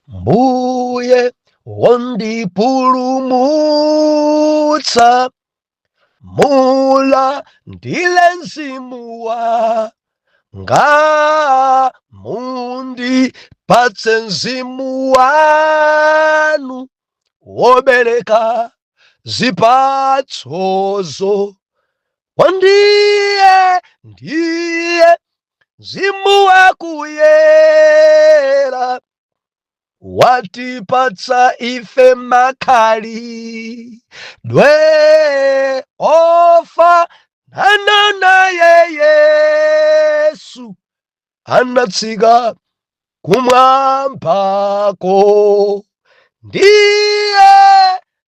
mbuye wondipulumutsa mulandire mzimu wanga mundipatse mzimu wanu wobereka zipatsozo ndiye ndiye mzimu wakuyera watipatsa ife makhalidwe ofanana naye yesu anatsika kumwambako ndiye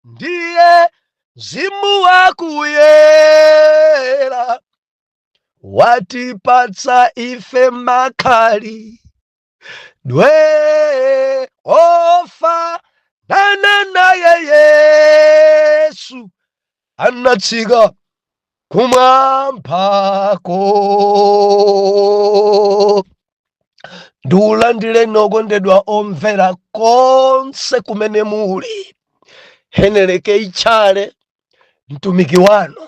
ndiye mzimu wakuyera watipatsa ife makhalidwe ofanana naye yesu anatsika kumwambako ndikulandireni okondedwa omvera konse kumene muli heneleke ichale mtumiki wanu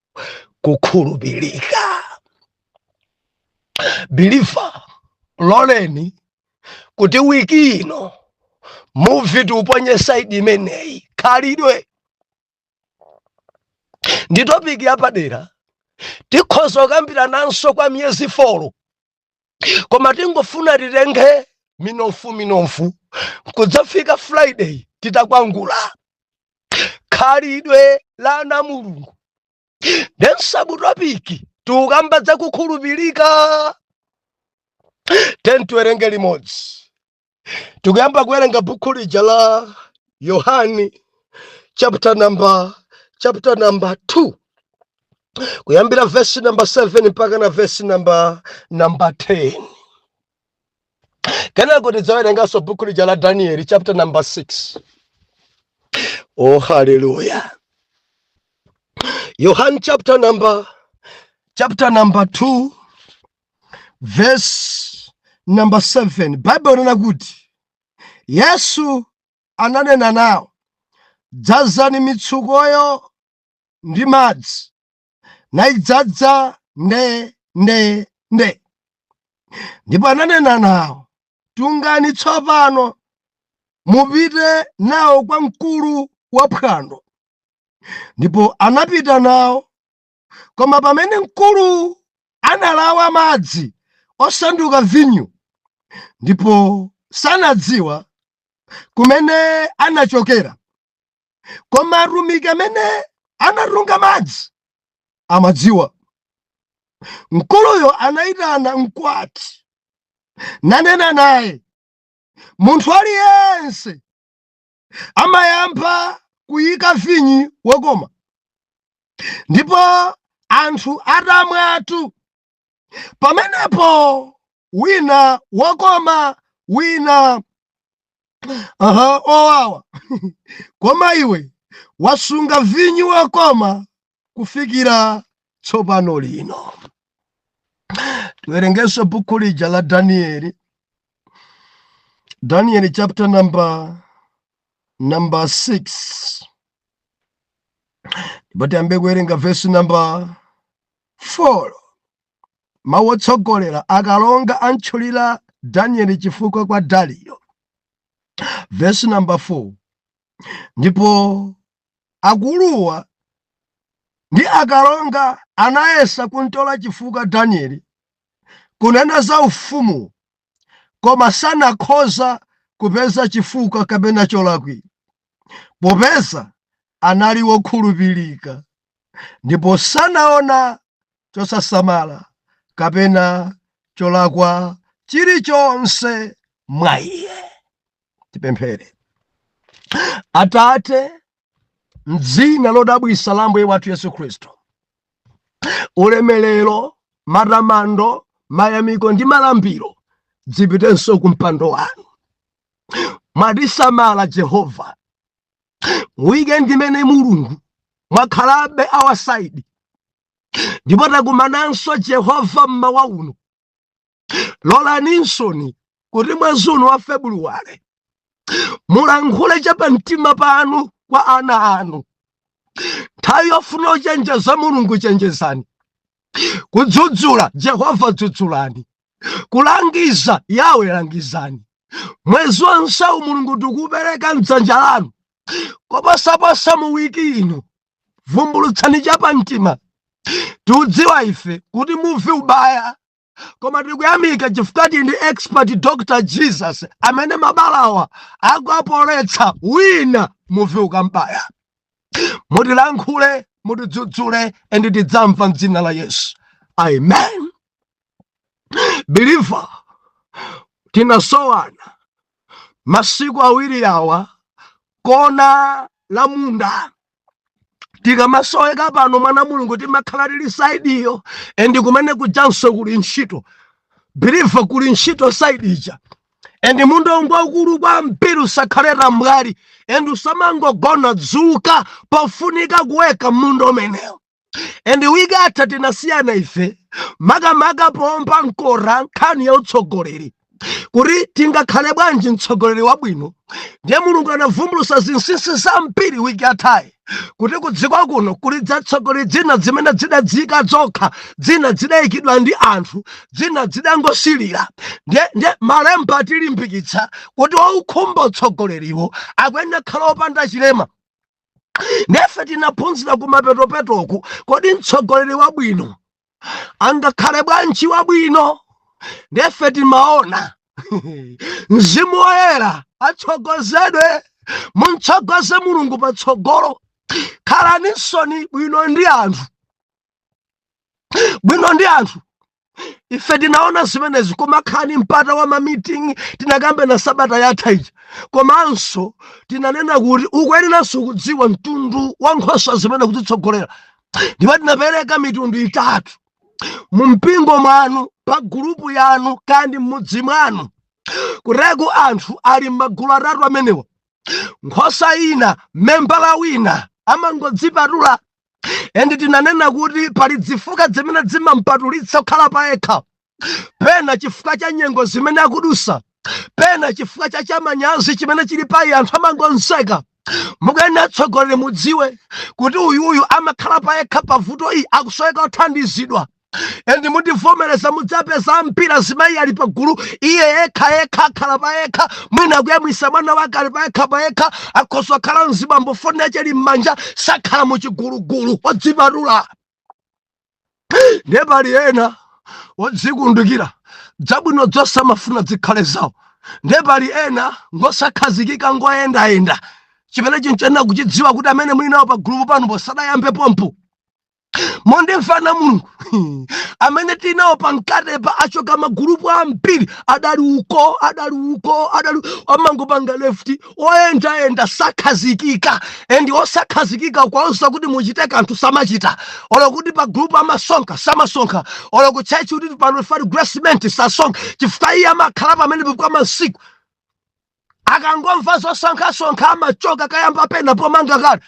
kukhulupirika believer loleni kuti wiki ino muvi tiuponye saidi imeneyi khalidwe ndi topiki yapadera tikhoza kukambirananso kwa miyezi folo koma tingofuna titenge minofu minofu kudzafika friday titakwangula khalidwe la ana a mulungu nde sabu topiki tikukamba za kukhulupirika tentiwerenge limodzi tikuyamba kuwerenga bukhu lija la yohani chapter number chapter number 2 kuyambira vesi number 7 mpaka na vesi number number 10 kenako tidzawerenganso bukhu lija la danieli chapter number 6 oh haleluya yohani chapter number chapter number 2 vesi namba 7 baibulo ikunena kuti yesu ananena nawo dzazani mitsukoyo ndi madzi nayidzadza nde nde nde ndipo ananena nawo tungani tsopano mupite nawo kwa mkulu wa phwando ndipo anapita nawo Koma pamene mkulu analawa madzi osanduka vinyo ndipo sanadziwa kumene anachokera, koma atumiki amene anatunga madzi amadziwa. Mkuluyo anayitana mkwati nanena naye, Munthu aliyense amayamba kuyika vinyo wokoma ndipo anthu atamwatu, pamenepo wina wokoma wina aha wowawa koma iwe wasunga vinyo wokoma kufikira tsopano lino. Tiwerengenso buku lija la Danieli, Danieli chapter nam number 6 ndipo tiyamba kuwerenga vesi namba 4 mawu otsogolera akalonga antchulira danieli chifukwa kwa dariyo vesi namba 4 ndipo Akuluwa ndi akalonga anayesa kuntola chifukwa Danieli kunena za ufumu koma sanakhoza kupeza chifukwa kapena cholakwira popeza anali wokhulupirika ndipo sanaona chosasamala kapena cholakwa chilichonse mwa iye. Tipemphere. Atate, mdzina lodabwitsa la Ambuye wathu Yesu Khristu, ulemelero, matamando, mayamiko ndi malambiro zipitenso ku mpando wanu. Mwatisamala Jehova, weekend imene Mulungu mwakhalabe our side ndipo takumananso Jehova mmawa uno lolaninso kuti mwezi uno wa February mulankhule cha pa mtima panu kwa ana anu nthawi yofuna kuchenjeza mulungu chenjezani kudzudzula jehova dzudzulani kulangiza yawe langizani mwezi wonsewu mulungu tikupereka mdzanja lanu koposaposa mu wiki ino vumbulutsani chapamtima tikudziwa ife kuti muvi ubaya koma tikuyamika chifukwa tili ndi expert dr jesus amene mabalawa akuapoletsa wina muvi ukambaya mutilankhule mutidzudzule and tidzamva mdzina la yesu amen believer tinasowana masiku awiri awa kona la munda tikamasoweka pano mwana mulungu timakhala tili side iyo and kumene kujanso kuli ntchito believer kuli ntchito side ija and munda ngwaukulu kwambiri usakhale tambwali and usamangogona dzuka pofunika kuweka munda umenewo and wiki yatha tinasiyana ife makamaka pompa nkora nkhani ya utsogoleri kuti tingakhale bwanji mtsogoleri wabwino ndiye mulungu anavumbulusa zinsinsi zambiri wiki yathayi kuti kudziko kuno kuli dzatsogoleri dzina dzimene dzidadziyika dzokha dzina dzidayikidwa ndi anthu dzina dzidangosilira ndiye malemba atilimbikitsa kuti waukhumba utsogoleriwo akuyenera khala opanda chilema nde ife tinaphunzira kumapetopetoku kodi mtsogoleri wabwino angakhale bwanji wabwino nde ife timaona mzimu woyera atsogozedwe muntsogoze mulungu patsogolo khalaninsoni bwino ndi anthu bwino ndi anthu ife tinaona zimenezi kumakhala ndi mpata wa ma meeting tinakambana sabata yatha ija komanso tinanena kuti ukuyeneranso kudziwa mtundu wa nkhosa zimene ukuzitsogolera ndipo tinapereka mitundu itatu mu mpingo mwanu pa gulupu yanu kaya ndi m'mudzi mwanu kutereku anthu ali m'magulu atatu amenewa nkhosa ina membala wina amangodzipatula and tinanena kuti pali dzifukwa dzimene dzimampatulitsa kukhala pa yekha pena chifukwa cha nyengo zimene akudusa pena chifukwa cha chamanyazi chimene chili pa iye anthu amangomseka mukuyenera atsogoleri mudziwe kuti uyuyu amakhala pa yekha pavuto iyi akusoweka kuthandizidwa and mundivomereza mudzapeza ampira azimayi ali pagulu iye yekha yekha akhala payekha mwina akuyamwisa mwana wake ali payekha payekha akhoza kukhala mzibambo foni yache ili m'manja sakhala muchigulugulu odzipatula ndiye pali ena odzikundikira dzabwino dzonse amafuna dzikhale zawo ndiye pali ena ngosakhazikika ngoyendayenda chimene tikuyenera kuchidziwa kuti amene muli nawo pa gulupu panopo sadayambe pompo mundimva ana a mulungu amene tinawo pamkatipa achoka magulupu ambiri adali uko adali uko adali amangopanga left oyendayenda sakhazikika and osakhazikika kuwauza kuti muchite kanthu samachita olo kuti pa gulupu amasonkha samasonkha olo kutchetchi kuti pa offering assessment sasonkha chifukwa iye amakhala pamenepa kwa masiku akangomva zosonkhasonkha amachoka kukayamba pena pomanga kale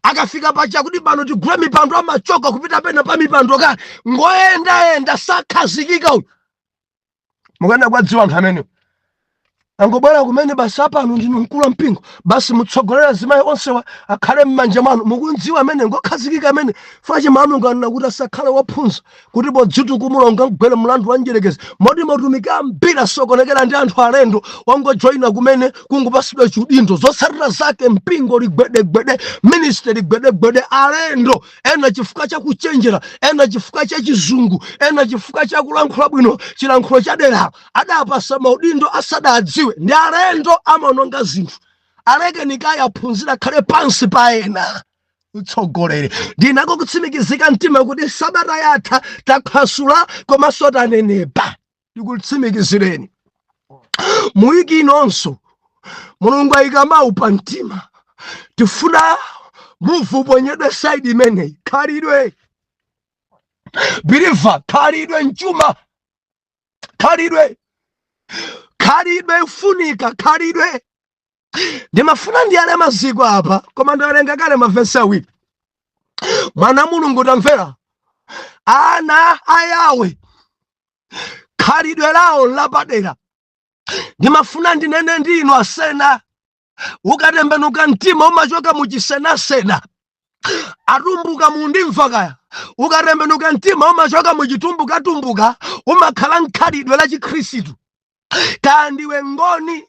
akafika pacha kuti pano tigule mipando amachoka kupita pena pa mipando kale ngoyendayenda sakhazikika uyu mukana kuwadziwa anthu amene angobwera kumene basi apano ndinu mkulu wa mpingo basi mutsogolere azimayi onsewa akhale m'manja mwanu mukumdziwa amene ngokhazikika amene chifukwa chake mawu a mulungu anena kuti asakhale wophunza kuti podzitukumula ungamgwere mlandu wa mdyerekezi moti mautumiki ambiri asokonekera ndi anthu alendo wangojoyina kumene kungopatsidwa chiudindo zotsatira zake mpingo ligwedegwede ministry ligwedegwede alendo ena chifukwa cha kuchenjera ena chifukwa cha chizungu ena chifukwa cha kulankhula bwino chilankhulo cha dera adapatsa maudindo asadadziwe ndi alendo amaononga zinthu alekeni kaye aphunzire akhale pansi pa ena utsogoleri ndinako kutsimikizika mtima kuti sabata yatha takhwasula komanso tanenepa ndikutsimikizireni mu wiki inonso mulungu ayika mawu pa mtima tifuna muvi uponyedwe saidi imeneyi khalidwe biliva khalidwe nchuma khalidwe khalidwe lifunika khalidwe ndimafuna ndiyale maziko apa koma ndawerenga kale mavesi awiri mwana wa mulungu tamvera ana a yawe khalidwe lawo n'lapadera ndimafuna ndinene ndi inu asena ukatembenuka mtima umachoka muchisenasena atumbuka mundimva kaya ukatembenuka mtima umachoka muchitumbukatumbuka umakhala mkhalidwe la chikhristu kaya ndiwe ngoni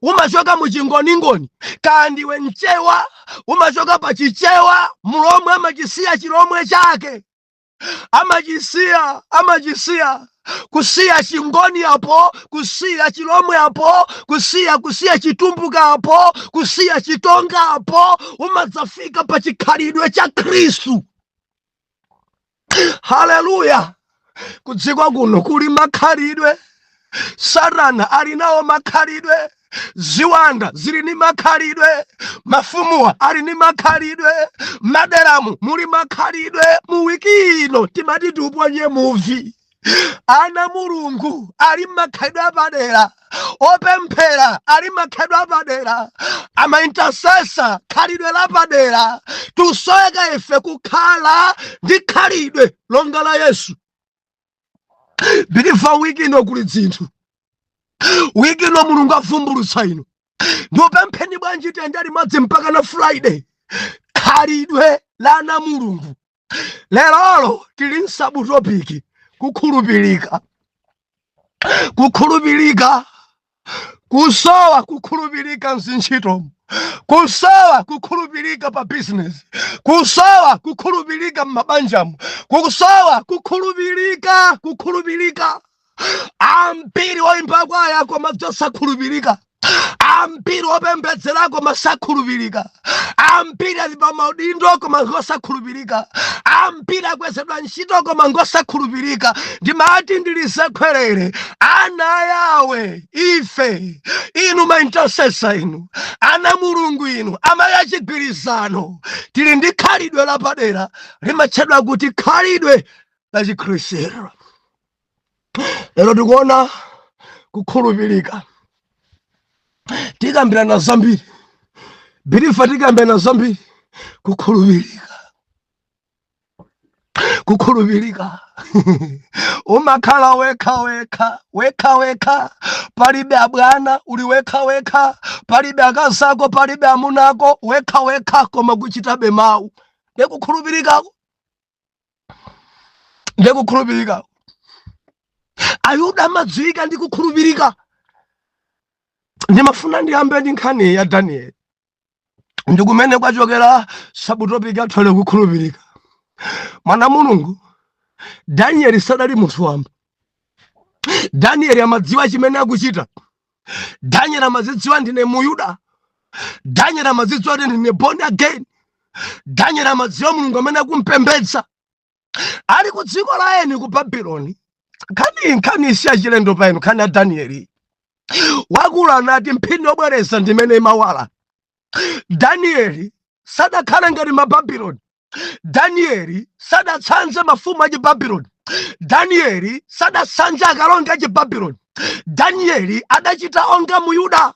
umachoka muchingoningoni kaya ndiwe mchewa umachoka pa chichewa mlomwe amachisiya chilomwe chake amachisiya amachisiya kusiya chingoni apo kusiya chilomwe apo kusiya kusiya chitumbuka apo kusiya chitonga apo umadzafika pa chikhalidwe cha khristu haleluya kudziko kuno kuli makhalidwe satana ali nawo makhalidwe ziwanda zili ni makhalidwe mafumuwa ali ni makhalidwe maderamu muli makhalidwe mu wiki ino timati tiuponye muvi ana a mulungu ali n'makhalidwe apadera opemphera ali n'makhalidwe apadera amaintasesa khalidwe lapadera tisoweka ife kukhala ndi khalidwe longa la yesu biliva wiki ino kuli dzinthu wiki ino mulungu avumbulutsa ino ndikupempheni bwanji tiyende limodzi mpaka na friday khalidwe la ana a mulungu lerolo tili msabutopiki kukhulupirika kukhulupirika kusowa kukhulupirika mzintchitomu kusowa kukhulupirika pa bizinesi kusowa kukhulupirika mmabanjamu kusowa kukhulupirika kukhulupirika ambiri oyimba kwaya koma osakhulupirika ambiri opembedzera koma sakhulupirika ambiri ali pa maudindo koma ngosakhulupirika ambiri akwezedwa ntchito koma ngosakhulupirika ndimati ndilisekhwerere ana a yawe ife inu maintasesa inu ana mulungu inu amayi achigwirizano tili ndi khalidwe lapadera limatchedwa kuti khalidwe la chikhristu lero tikuona kukhulupirika tikambirana zambiri birifa tikambirana zambiri kukhulupirika kukhulupirika umakhala wekha wekha wekha wekha palibe abwana uli wekha wekha palibe akazako palibe amunako wekha wekha koma kuchitabe mawu ndekukhulupirikako ndi kukhulupirika ayuda amadziwika ndi kukhulupirika ndimafuna ndiyambe ndi nkhani ya danieli ndikumene kwachokera sabutopiki athole kukhulupirika mwana mulungu danieli sadali munthu wamba danieli amadziwa chimene akuchita daniel amadzidziwa ndine muyuda daniel amadzidziwa kuti ndine born again daniel amadziwa mulungu amene akumpembedza ali ku dziko la eni ku babuloni nkhani nkhani isiyachilendo pa inu nkhani ya danieli akulu anati mphini yobwereza ndimene imawala danieli sadakhala ngati mababuloni Danieli sadatsanze mafumu achibabuloni. Danieli sadatsanze akalonga achibabuloni. Danieli adachita onga mu Yuda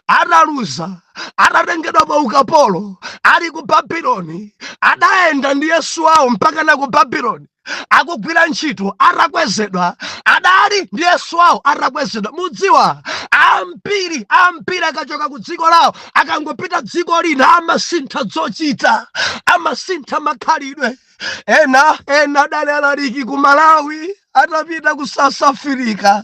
ataluza atatengedwa pa ukapolo ali ku Babuloni, adayenda ndi Yesu wawo mpaka na ku Babuloni. akugwira ntchito atakwezedwa adali ndi yesu wawo atakwezedwa mudziwa ambiri ambiri akachoka ku dziko lawo akangopita dziko lina amasintha zochita amasintha makhalidwe ena ena adali alaliki ku malawi atapita ku south africa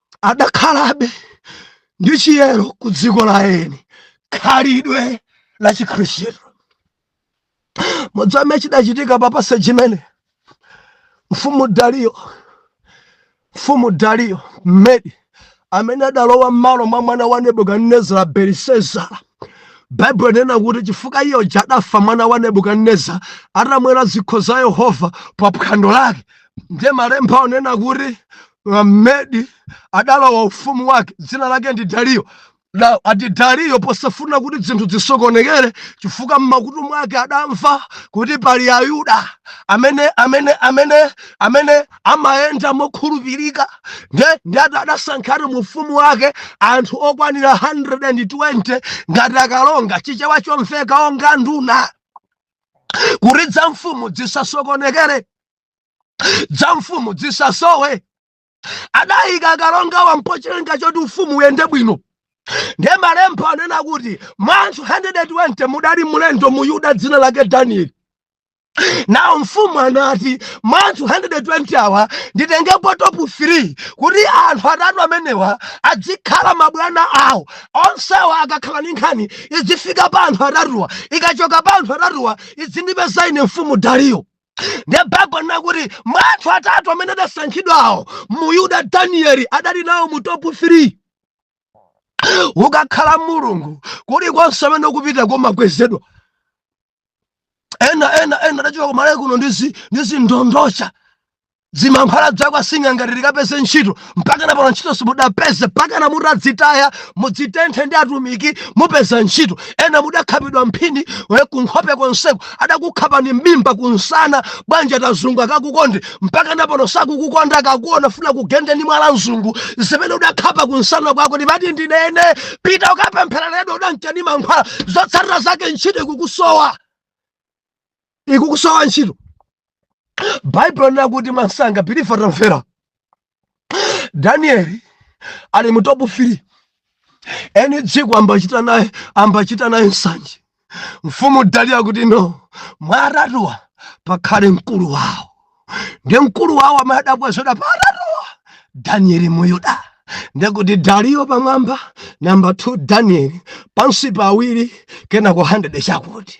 adakhalabe ndi chiyero ku dziko la eni khalidwe la chikhristu mudzame chidachitika papase chimene mfumu daliyo mfumu daliyo mmedi amene adalowa m'malo mwa mwana wa nebukadinezara belisezara baibulo linena kuti chifukwa iye uja adafa mwana wa nebukadineza atamwera zikho za yehova pa phwando lake ndiye malemba onena kuti mmedi adalowa ufumu wake dzina lake ndi dariyo na ati dariyo posafuna kuti zinthu zisokonekere chifukwa mmakutu mwake adamva kuti pali ayuda amene amene amene amene amayenda mokhulupirika ndiye adasankhatu mu ufumu wake anthu okwanira 120 ngati akalonga chichewa chomveka onga nduna kuti dza mfumu dzisasokonekere dza mfumu dzisasowe adayika akalongawa pa cholinga choti ufumu uyende bwino ndiye malemba anena kuti mwa anthu 120 mudali mlendo muyuda dzina lake danieli now mfumu anati mwa anthu 120 awa nditengepo top 3 kuti anthu atatu amenewa adzikhala mabwana awo onsewa akakhala ndi nkhani idzifika pa anthu atatuwa ikachoka pa anthu atatuwa idzindipeza ine mfumu dariyo ndiye baibulo linena kuti mwa anthu atatu amene adasankhidwawo muyuda danieli adali nawo mu top 3 ukakhala mulungu kulikonse amene ukupita kumakwezedwa ena ena ena adachoka kumalawi kuno ndi zi- ndi zindondocha zimankhwala dzakwa sing'anga ati tikapeze ntchito mpaka napano ntchito simudapeze mpakana mutadzitaya mudzitenthe ndi atumiki mupeza ntchito ena mudakhapidwa mphini we kunkhope konseko adakukhapani m'mimba kunsana bwanji ati azungu akakukonde mpaka napano sakukukonda akakuona afuna akugende ndi mwala mzungu zimene udakhapa kunsana kwako ndimati ndinene pita ukapemphereredwa udanka ndi mankhwala zotsatira zake ntchito ikukusowa ikukusowa ntchito baibulo linena kuti mwansanga believer tamvera danieli ali mu topu fili eni dziko ambachita naye ambachita naye nsanje mfumu daliya kuti no mwaratuwa pakhale mkulu wawo ndi mkulu wawo amene adabwezoda paratuwa danieli muyuda ndekuti daliyo pamwamba namba 2 danieli pansi pawiri kenako 100 chakuti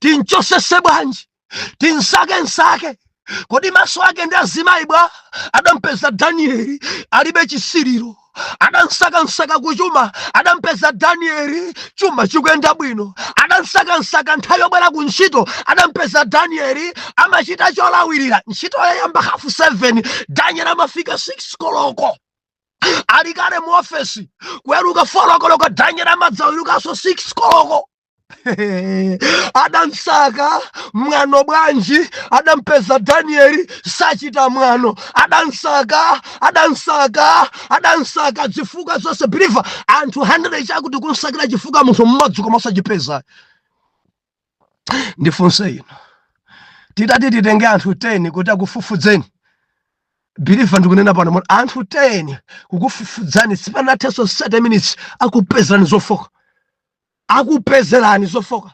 tinchosese bwanji tinsakensake kodi maso ake ndi azimayi bwa adampeza danieli alibe chisiriro adansakansaka kuchuma adampeza danieli chuma chikuyenda bwino adansakansaka nthawi yobwera ku ntchito adampeza danieli amachita cholawirira ntchito yayamba hafu 7 danieli amafika 6 koloko ali kale mu ofesi kuweruka 4 koloko danieli amadzawerukanso 6 koloko adansaka mwano bwanji adampeza danieli sachita mwano adansaka adansaka adansaka zifukwa zonse believer anthu 100 chakuti kunsakira chifukwa munthu mmodzi koma osachipeza ndifunse inu titati titenge anthu 10 kuti akufufudzeni believer ndikunena pano mona anthu 10 kukufufudzani sipanathenso 30 minutes akupezerani zofooka akupezerani zofooka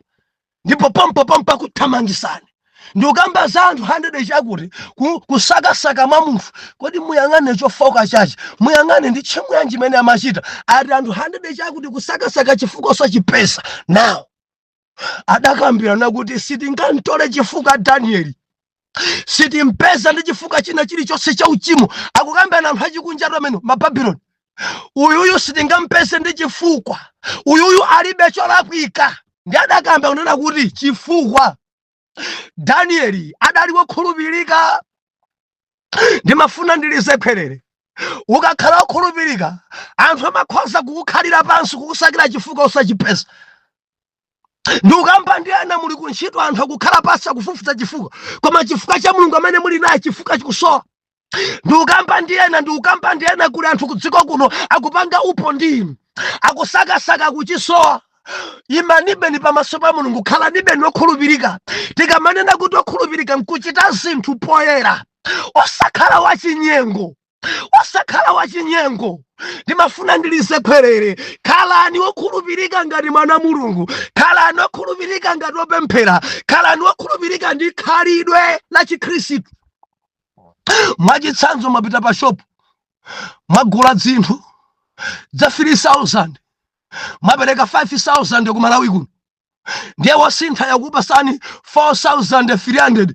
ndipo pompopompo akuthamangisani ndikukamba za anthu 100 chakuti ku- kusakasaka mwa munthu kodi muyang'ane chofooka chache muyang'ane ndi tchimo yanji imene amachita ati anthu 100 chakuti kusakasaka chifukwa osachipeza now adakambirana kuti sitingamtole chifukwa danieli sitimpeza ndi chifukwa china chilichonse cha uchimo akukambirana anthu achikunja atu amene mababuloni uyuyu sitingampeze ndi chifukwa uyuyu alibe cholakwika ndi adakamba kunena kuti chifukwa danieli adali wokhulupirika ndimafuna ndilize khwerere ukakhala wokhulupirika anthu amakhoza kukukhalira pansi kukusakira chifukwa osachipeza ndikukamba ndi ena muli kuntchito anthu akukhala pansi akufufuza chifukwa koma chifukwa cha mulungu amene muli naye chifukwa chikusowa ndikukamba ndi ena ndikukamba ndi ena kuli anthu kudziko kuno akupanga upo ndi inu akusakasaka kuchisowa imanibeni pamaso pa mulungu khalanibeni okhulupirika tikamanena kuti okhulupirika nkuchita zinthu poyera osakhala wachinyengo osakhala wachinyengo ndimafuna ndilize khwerere khalani wokhulupirika ngati mwana mulungu khalani wokhulupirika ngati wopemphera khalani wokhulupirika ndi khalidwe la chikhristu mwachitsanzo mwapita pa shopu mwagula dzinthu dza 3000 mwapereka 5000 ku malawi kuno ndiye wosintha yakupasani 4300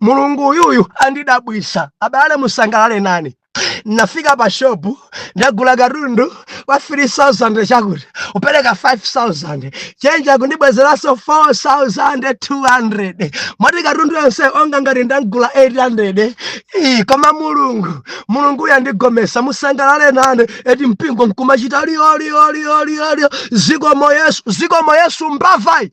mulungu uyuyu andidabwisa abale musangalale nane nafika pa shopu ndagula katundu wa 3000 chakuti upereka 5000 chenji akundibwezeranso 4200 moti katundu yonse onga ngati ndagula 800 Ii, koma mulungu mulunguyu andigomesa musangalale nane eti mpingo nkumachita lioliolioliolio zikomo yesu zikomo yesu mbavayi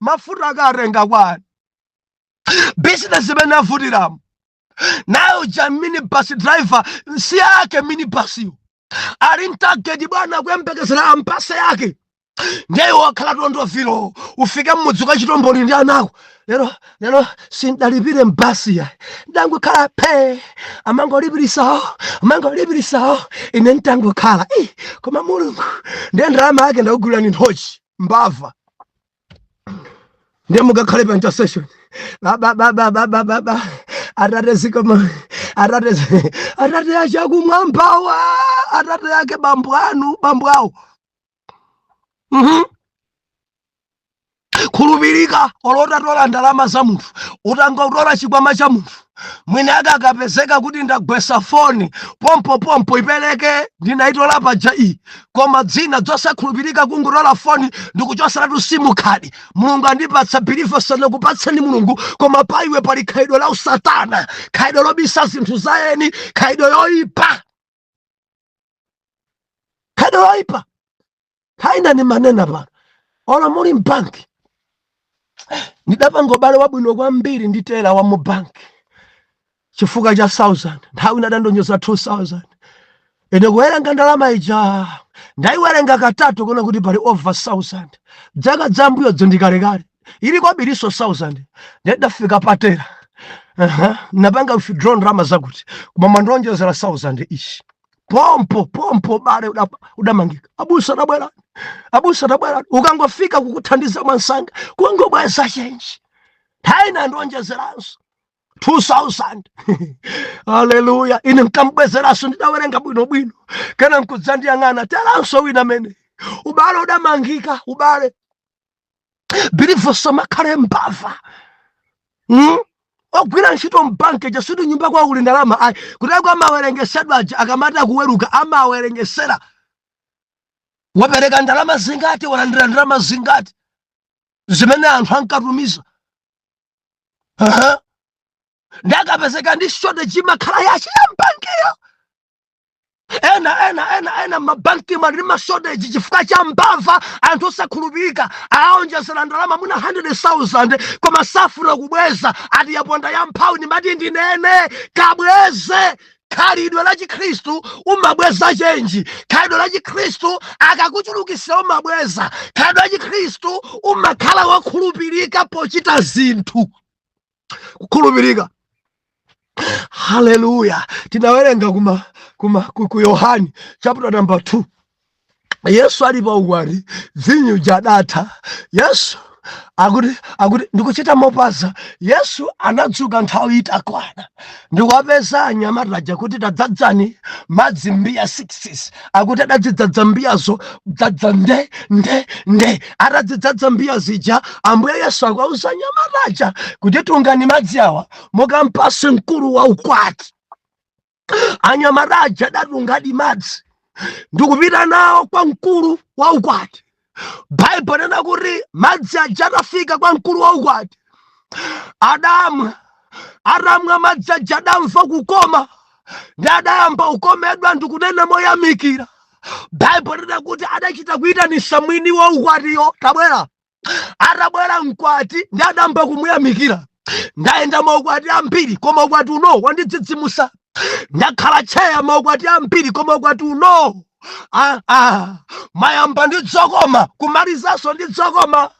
mafuta akatenga kwani business imene avutiramo nayo uja minibus driver msiyake minibasiyo ali mtageti bwana akuyembekezera ampase yake ndiye wakhala tondovilo ufike mmudzi kwa chitomboni ndi anako lero lero sindalipire mbasi iya ndangokhala phe amangolipirisawo amangolipirisawo ine ntangokhala i koma mulungu ndiye ndalama yake ndakugulirani nthochi mbava ndiye mukakhale pa intercession baba baba baba baba atate zikomo atate atate achakumwambawa atate yake bambo anu bambo awo mhm khulupirika olo utatola ndalama za munthu utangotola chikwama cha munthu mwini akakapezeka kuti ndagwesa foni pompo pompo ipereke ndinayitola paja iyi koma dzina dzosakhulupirika kungotola foni ndikuchoseratu simu khadi mulungu andipatsa bilivo sanakupatseni mulungu koma pa iwe pali khalidwe la usatana khalidwe lobisa zinthu za eni khalidwe yoyipa khalidwe loyipa Kaya ndimanena pano olo muli mbanki ndidapanga ubale wabwino kwambiri ndi tela wa mu banki chifukwa cha 1000 nthawi ina adandionjeza 2000 ine kuwerenga ndalama ija ndaiwerenga katatu kuona kuti pali over 1000 dzaka dzambuyozi ndikalekale ili kwabirinso 1000 ndidafika pa tela uh-huh. ndapanga withdraw ndalama zakuti koma mwandionjezera 1000 ishi pompo pompo ubale udamangika abusa tabwera abusa tabwera ukangofika kukuthandiza mwansanga kungobweza chenji nthawi ina anandionjezeranso 2000 haleluya ine nkambwezeranso ndidawerenga bwinobwino kena nkudzandiyang'ana telanso wina mene ubale udamangika ubale believer usamakhale mbava hmm? ogwira ntchito mbanki sikuti nyumba kwawo kuli ndalama ayi kuteroko amawerengesedwa aja akamati akuweruka amawerengesera wapereka ndalama zingati walandira ndalama zingati zimene anthu ankatumiza nde akapezeka ndi shortage imakhala yake ya mbankiyo ena ena ena ena mabankimu ali ndi mashoteji chifukwa cha mbava anthu osakhulupirika awaonjezera ndalama mwina 100,000 koma sakufuna kubweza ati yaponda ya mphawi ndimati ndinene kabweze khalidwe la chikhristu umabweza chenji khalidwe la chikhristu akakuchulukisira umabweza khalidwe la chikhristu umakhala wokhulupirika pochita zinthu kukhulupirika haleluya tinawerenga kuma ku yohani chapter number 2 yesu ali pa ukwati vinyo uja adatha yesu akuti akuti ndikuchita mopaza yesu anadzuka nthawi itakwana ndikuwapeza anyamata aja kuti tadzadzani madzi mbiya 6 akuti adadzidzadza mbiyazo dzadza nde nde nde atadzidzadza mbiya zija ambuye yesu akuwauza anyamata aja kuti tungani madzi awa mukampase mkulu wa ukwati anyamata aja adatungadi madzi ndikupita nawo kwa mkulu wa ukwati baibulo likunena kuti madzi aja atafika kwa mkulu wa ukwati adamwa atamwa madzi aja adamva kukoma ndi adayamba kukomedwa ndi kunena moyamikira baibulo likunena kuti adachita kuyitanisa mwini wa ukwatiyo tabwera atabwera mkwati ndi adayamba kumuyamikira ndayenda maukwati ambiri koma ukwati uno wandidzidzimusa ndakhala tcheya maukwati ambiri koma ukwati uno ah, ah, mayamba ndi dzokoma kumalizanso ndi dzokoma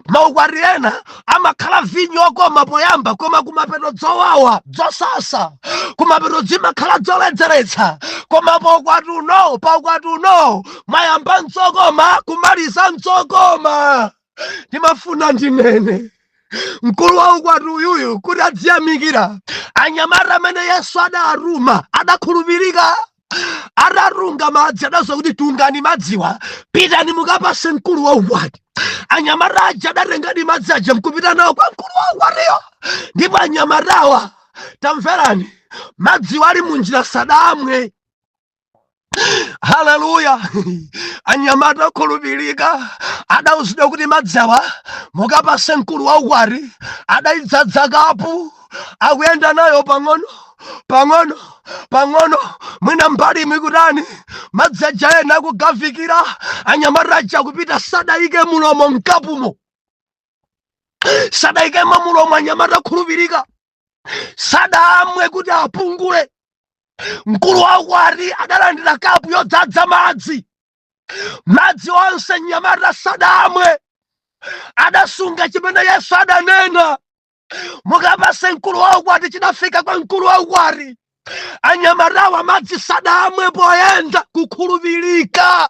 maukwati ena amakhala vinyo okoma poyamba koma kumapeto dzowawa dzosasa kumapeto zimakhala dzoledzeretsa koma paukwati uno paukwati uno mayamba ndzokoma kumaliza ndzokoma ndimafuna ndinene mkulu wa ukwati uyuyu kuti adziyamikira anyamata amene yesu adatuma adakhulupirika atatunga madzi adauzidwa kuti tungani madziwa pitani mukapase mkulu wa ukwati anyamata aja adatengadi madzi aja mkupita nawo kwa mkulu wa ukwatiyo ndipo anyamatawa tamverani madziwa ali munjira sadamwe haleluya anyamata okhulupirika adauzidwa kuti madzi awa mukapase mkulu wa ukwati adaidzadza kapu akuyenda nayo pang'ono pang'ono pang'ono mwina mbalimu kutani madzi aja ena akugavikira anyamata aja kupita sadayike mulomo mkapumo sadayikemo mulomo anyamata okhulupirika sadamwe kuti apungule mkulu wa ukwati adalandira kapu yodzadza madzi madzi onse mnyamata sadamwe adasunga chimene yesu adanena mukapase mkulu wa ukwati chidafika kwa mkulu wa ukwati anyamatawa madzi sadamwe poyenda kukhulupirika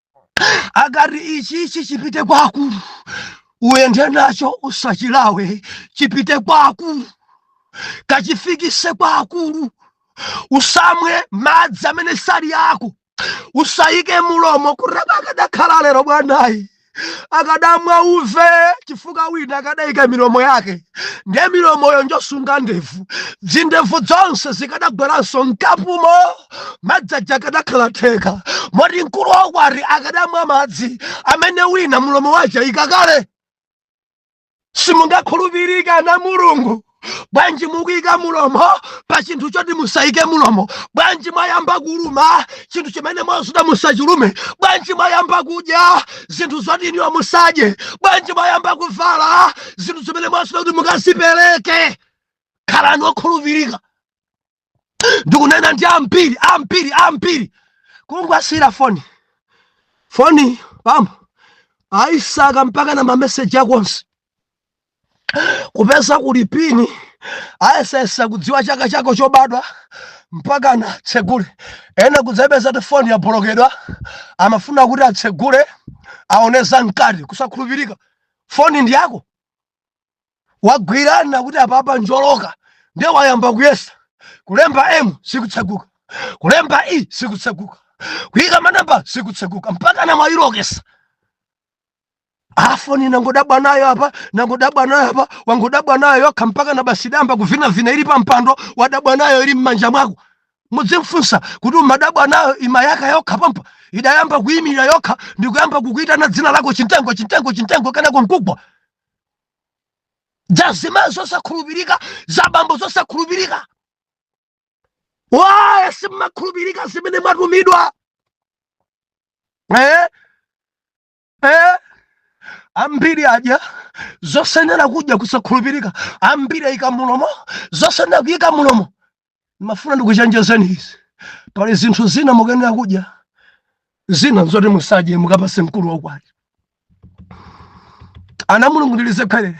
akati ichichi chipite kwa akulu uyende nacho usachilawe chipite kwa akulu kachifikise kwa akulu usamwe madzi amene sali ako usayike mulomo kulawa akadakhala alero bwanayi akadamwa uve chifukwa wina akadayika milomo yake ndiye milomoyo njosunga ndevu zindevu zonse zikadagweranso mkapumo madzi aja akadakhala theka moti mkulu wa ukwati akadamwa madzi amene wina mulomo wayika kale simungakhulupirike ana a mulungu bwanji mukuyika mulomo pa chinthu choti musayike mulomo bwanji mwayamba kuluma chinthu chimene mwauzidwa musachilume bwanji mwayamba kudya zinthu zoti inuyo musadye bwanji mwayamba kuvala zinthu zimene mwauzidwa kuti mukazipereke khalani okhulupirika ndikunena ndi ambiri ambiri ambiri kungowasiyira foni foni pompo aisaka mpakana mameseji ako onse kupeza kuli pini ayesesa kudziwa chaka chako chobadwa mpakana atsegule ena kudzapeza kuti foni yabolokedwa amafuna kuti atsegule aone za mkati kusakhulupirika foni ndi yako wagwirana kuti apapa njoloka nde wayamba kuyesa kulemba m sikutseguka kulemba e sikutseguka kuyika manamba sikutseguka mpakana mwayilokesa foni nangodabwa nayo apa nangodabwa nayo apa wangodabwa nayo yokha mpakana basi idayamba kuvinavina ili pampando wadabwa nayo ili m'manja mwako mudzimfunsa kuti umadabwa nayo imayaka yokha pampa idayamba kuyimirira yokha ndikuyamba kukuitana dzina lako chintengo chintengo chintengo kenako nkugwa za azimayi zosakhulupirika za abambo zosakhulupirika why simmakhulupirika zimene mwatumidwa eh? Eh? ambiri adya zosayenera kudya kusakhulupirika ambiri ayika mulomo zosayenera kuyika mulomo ndimafuna ndikuchenjezeni izi pali zinthu zina mukuyenera kudya zina nzoti musadye mukapase mkulu waukwati ana a mulungu ndilize kherere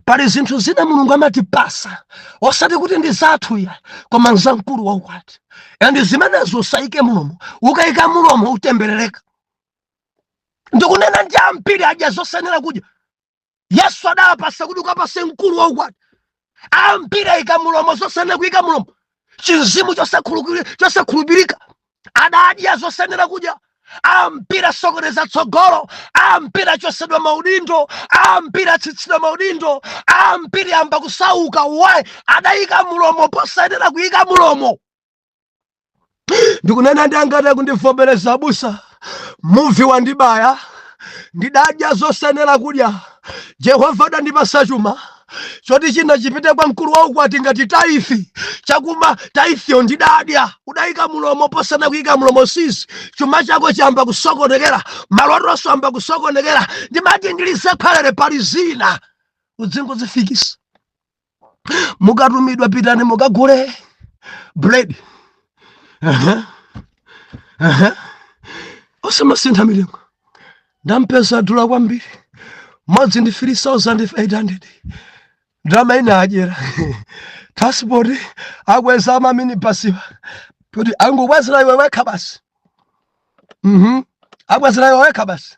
pali zinthu zina mulungu amatipasa osati kuti ndi zathu ayi koma nza mkulu waukwati and zimenezo usayike mulomo ukayika mulomo utemberereka ndikunena ndi ambiri adya zosayenera kudya yesu adawapasa kuti ukapase mkulu wa ukwati ambiri ayika mulomo zosayenera kuyika mulomo chimzimu chosakhulupirika adadya zosayenera kudya ambiri asokoneza tsogolo ambiri achosedwa maudindo ambiri atsitsidwa maudindo ambiri ayamba kusauka why adayika mulomo posayenera kuyika mulomo ndikunena ndi angati akundivomereza abusa muvi wandibaya ndidadya zosayenera kudya jehova adandipasa chuma choti china chipite kwa mkulu wa ukwati ngati tithe chakhumi titheyo ndidadya udayika mulomo posayenera kuyika mulomo si izi chuma chako chayamba kusokonekera malotonso ayamba kusokonekera ndimati ndilize kherere pali zina udzingozifikisa mukatumidwa pitani mukagule bread Aha. Aha. osamasintha mitengo ndampeza adula kwambiri mmodzi ndi 3800 ndalama ina adyera transport akweza amaminibasiwa kuti angokwezera iwe wekha basi Mhm. akwezera iwe wekha basi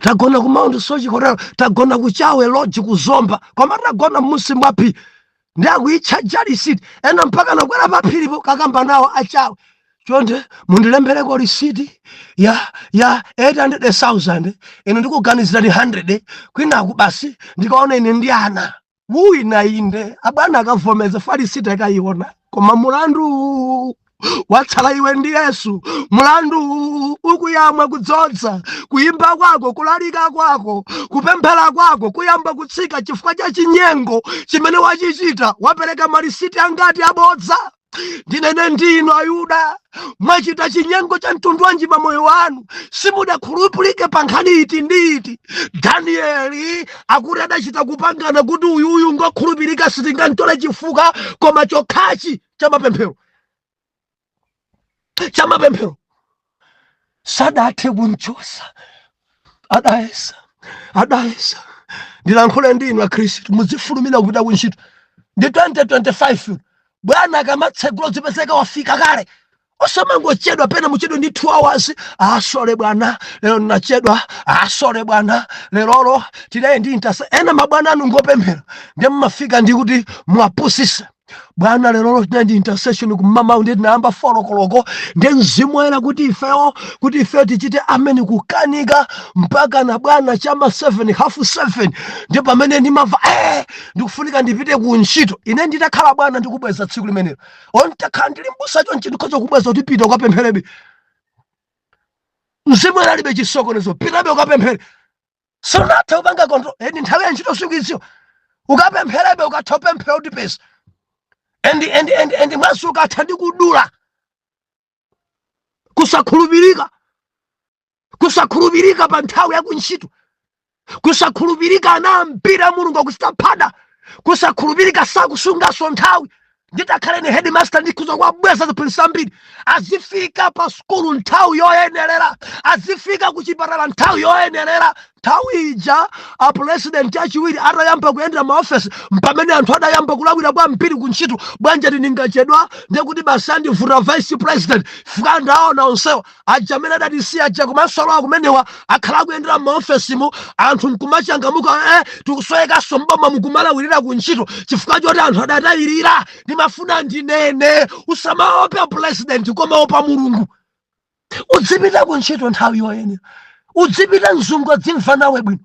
tagona ku mount soche hotel tagona ku chawe lodge ku zomba koma tagona mmusi mwa phiri ndi akuitchaja lisiti ena mpaka nakwera pa phiripo kakamba nawo achawe chonde mundilembereko lisiti ya ya 800000 ine ndikuganizirani 100 kwinaku basi ndikaona ine ndi ana wina inde abwana akavomeza malisiti akayiona koma mulandu watsala iwe ndi yesu mulandu ukuyamwa kudzodza kuyimba kwako kulalika kwako kupemphera kwako kuyamba kutsika chifukwa cha chinyengo chimene wachichita wapereka malisiti angati abodza ndinene ndinu ayuda mwachita chinyengo cha mtundu wanji pa moyo wanu simudakhulupirike pa nkhani iti ndi iti danieli akuti adachita kupangana kuti uyuyu ngokhulupirika sitingamtole chifukwa koma chokhachi cha mapemphero cha mapemphero sadathe kumchosa adayesa adayesa ndilankhule ndi inu akhristu muzifulumira kupita ku ntchito ndi 2025 bwana akamatsegula zipezeka wafika kale osamangochedwa pena muchedwe ndi 2 hours asole bwana lero ndinachedwa asole bwana lerolo tinali ndi intasa ena mabwana anu ngopemphera ndiye mumafika ndi kuti muwapusise bwana lerolo tinali ndi intercession kummawa ndiye tinayamba folokoloko ndi mzimu woyera kuti ifewo kuti ifewo tichite ameni kukanika mpaka na bwana chama 7 half 7 ndi pamene ndimamva eh ndikufunika ndipite ku ntchito ine nditakhala bwana ndikubweza tsiku limenelo olo nditakhala ndili mbusa chonchi ndikhoza kubweza kuti pita ukapempherebe mzimu woyera alibe chisokonezo pitabe ukapemphere sunatha kupanga control ndi nthawi ya ntchito sukuiziwa ukapempherebe ukatha kupemphera kuti m'dzina endi endi endi endi mwazi ukatha ndi kudula kusakhulupirika kusakhulupirika pa nthawi ya kuntchito kusakhulupirika ana ambiri a mulungu akuchita phada kusakhulupirika sakusungaso nthawi nditakhala ine headmaster ndikhoza kuwabweza ziphunzitsi ambiri azifika pa sukulu nthawi yoyenerera azifika ku chipatala nthawi yoyenerera nthawi ija apulezidenti achiwiri atayamba kuyendera maofesi mpamene anthu adayamba kulawira kwambiri ku ntchito bwanji ati ndikachedwa ndekuti basi andivuta vice president fika ndaona onsewa aja amene adatisiya aja komanso alowa kumenewa akhala akuyendera m'maofesimu anthu nkumachangamuka eh, tikusowekanso m'bomamu kumalawirira ku ntchito chifukwa choti anthu adatayirira ndimafuna ndinene usamaopa pulezidenti koma opa mulungu udzipita ku ntchito nthawi yoyenera udzipita mzungu adzimva nawe bwino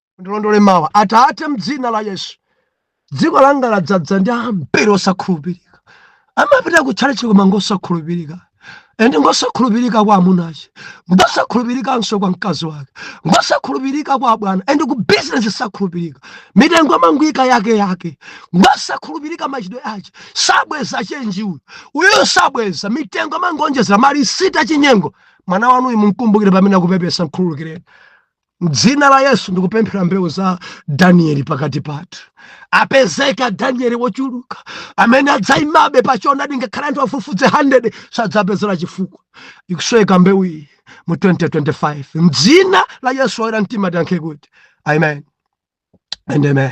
ndilondole mawa atate mdzina la yesu dziko langa ladzadza ndi ambiri osakhulupirika amapita kutchalitchi koma ngosakhulupirika ende ngosakhulupirika kwa amuna ache ngosakhulupirikanso kwa mkazi wake ngosakhulupirika kwa abwana ende ku bizinesi sakhulupirika mitengo amangoika yake yake ngosakhulupirika machitidwe ache sabweza chenji uyu uyu sabweza mitengo amangoonjezera malisiti achinyengo mwana wanuyu mumkumbukire pamene akupepesa mkhululukireni Mdzina la Yesu ndikupemphera mbewu za Danieli pakati pathu apezeka Danieli wochuluka amene adzaimabe pa choonadi ngakhale anthu afufudze 100 sadzapezeka chifukwa ikusweka mbewu iyi mu 2025 mdzina la Yesu oyera mtima tiyankhe kuti amen and amen